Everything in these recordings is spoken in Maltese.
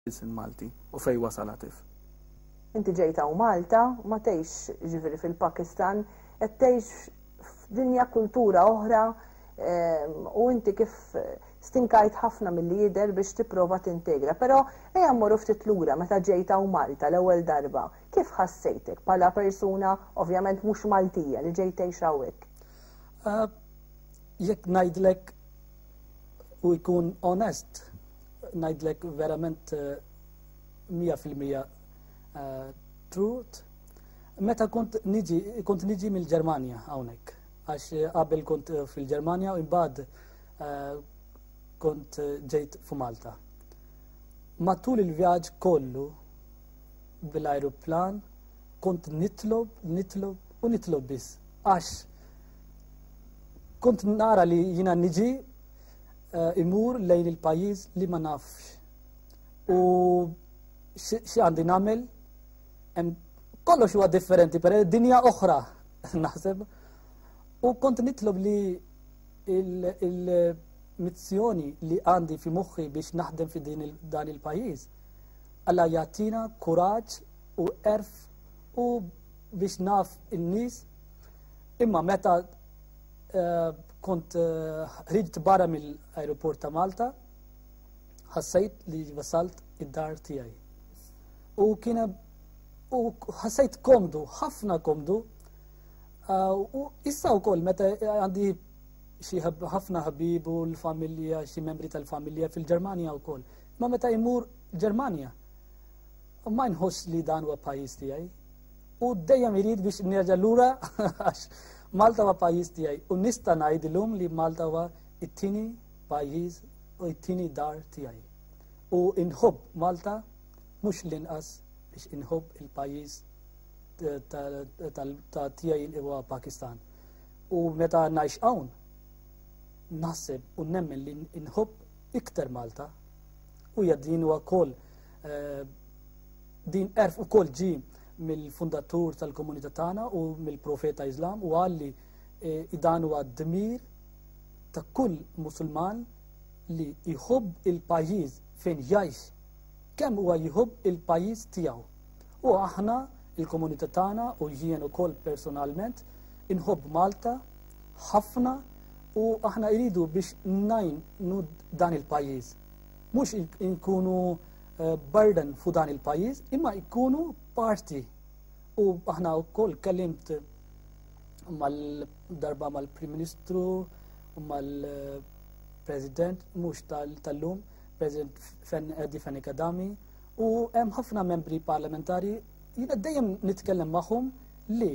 il-Kunsill Malti u fejn wasal Atif? Inti ġejt hawn Malta, ma tgħixx jiġifieri fil-Pakistan, qed tgħix f'dinja kultura oħra u inti kif stinkajt ħafna milli jidher biex tipprova tintegra. Però ejja mmorru ftit lura meta ġejt hawn Malta l-ewwel darba. Kif ħassejtek bħala persuna ovvjament mhux Maltija li ġejt tgħix hawnhekk? Jekk ngħidlek u jkun onest, Ngħidlek verament 100% eh, eh, truth. Meta kont niġi, kont niġi mill-Ġermanja hawnhekk, għax eh, qabel kont fil-Ġermanja u imbagħad kont ġejt fu Malta. Matul il-vjaġġ kollu bil-ajruplan kont nitlob, nitlob u nitlob biss. Għax kont nara li jina niġi eh, imur lejn il-pajjiż li ma nafx u xi għandi nagħmel kollox huwa differenti per dinja oħra naħseb u kont nitlob li il-mizzjoni li għandi fi moħħi biex naħdem fi din dan il-pajjiż alla jagħtina kuraġġ u erf u biex naf in-nies imma meta Kont ħriġt barra mill-ajruport ta' Malta, ħassejt li wasalt id-dar tiegħi. U kien u ħassejt komdu, ħafna komdu. Uh, u issa wkoll meta għandi xi ħafna ħabibu l-familja, xi membri tal-familja fil-Ġermanja wkoll. Ma meta jmur Ġermanja, U ma nħoss li dan huwa pajjiż tiegħi. U dejjem irid biex nerġa' lura għax Malta huwa pajjiż tiegħi u nista' ngħid illum li Malta huwa it-tieni pajjiż u it-tieni dar tiegħi. U inħobb Malta mhux l-inqas biex inħobb il-pajjiż ta' tiegħi li huwa Pakistan. U meta ngħix hawn naħseb u nemmen li inħobb iktar Malta u jadin huwa wkoll Eh, din erf u kol ġi mill-fundatur tal-komunità tagħna u mill-profeta Islam u għalli eh, dan huwa dmir ta' kull musulman li jħobb il-pajjiż fejn jgħix kemm huwa jħobb il-pajjiż tiegħu. U aħna il-komunità tagħna u jien ukoll personalment inħobb Malta ħafna u aħna jridu biex najn nud dan il-pajjiż. mhux inkunu eh, burden fu dan il-pajjiż, imma jkunu parti. U aħna wkoll kellimt mal-darba mal-Prim Ministru, mal-President, mhux tal-lum, President Edi Fenni Kadami, u hemm ħafna membri parlamentari jiena dejjem nitkellem magħhom li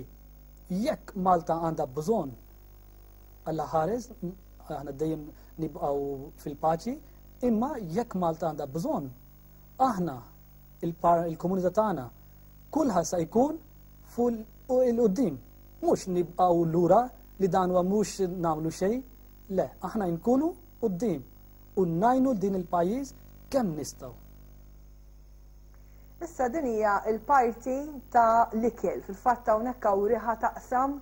jekk Malta għandha bżonn Alla ħares, aħna dejjem nibqgħu fil-paċi, imma jekk Malta għandha bżonn, aħna il-komunità tagħna kulħadd sa jkun fuq il-qudiem. Mhux nibqgħu lura li dan huwa mhux nagħmlu xejn, le, aħna nkunu qudiem u najnu din il-pajjiż kemm nistgħu. Issa din hija l-parti ta' l-ikel, fil-fatt hawnhekk hawn riħa taqsam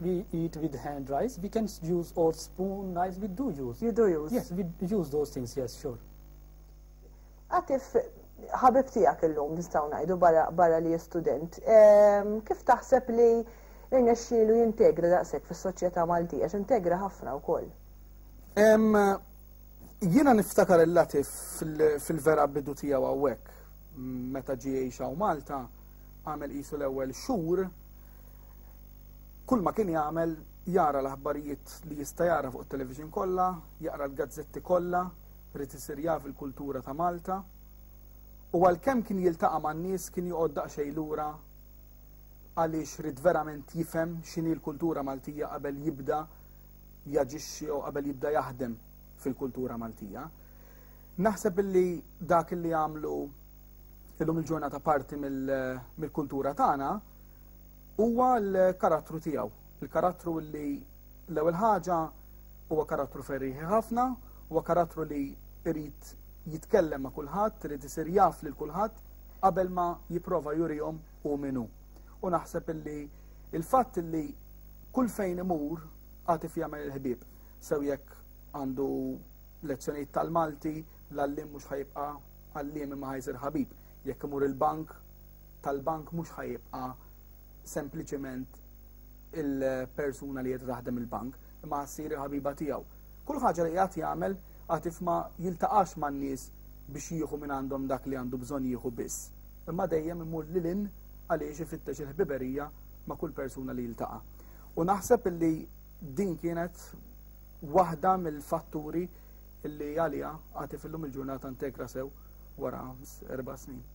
We eat with hand rice. We can use or spoon, knives. We do use. You do use. Yes, we use those things. Yes, sure. Għatif, ħabib tijak il-lum, nistaw najdu barra li student. Ehm, kif taħseb li irnexxielu jintegra daqsek fis soċjetà Maltija, integra ħafna u koll? Ehm, jiena niftakar il-latif fil-vera bidu tijaw għawek, meta ġiexa u Malta, għamel jisu l-ewel xur, Kull ma kien jagħmel, jara l-aħbarijiet li jista' jara fuq it-television kollha, jaqra l-gazzetti kollha, ried isir jaf il-kultura ta' Malta. U għalkemm kien jiltaqa' man-nies kien joqgħod daqsxejn lura għaliex ried verament jifhem x'inhi l-kultura Maltija qabel jibda jaġixxi jew qabel jibda jaħdem fil-kultura Maltija. Naħseb illi dak illi għamlu illum il-ġurnata parti mill-kultura tagħna huwa l-karattru tiegħu. Il-karattru li l-ewwel ħaġa huwa karattru ferriħi ħafna, huwa karattru li jrid jitkellem ma' kulħadd, irid isir jaf lil kulħadd qabel ma jipprova jurihom hu min hu. U naħseb illi il-fatt li kull fejn imur għatif jagħmel il-ħbieb, sew jekk għandu lezzjonijiet tal-Malti, l-għallim mhux ħajibqa' għalliem imma ħajsir ħabib. Jekk imur il-bank, tal-bank mhux ħa jibqa' sempliċement il-persuna li qed taħdem il-bank, imma ssir il-ħabiba tiegħu. Kull ħaġa li qiegħed jagħmel għad ma jiltaqax man-nies biex jieħu minn għandhom dak li għandu bżonn jieħu biss, imma dejjem imur lil in għaliex ifittex il-ħbiberija ma' kull persuna li jiltaqa'. U naħseb li din kienet waħda mill-fatturi li għalija għatif illum il-ġurnata integra sew wara erba' snin.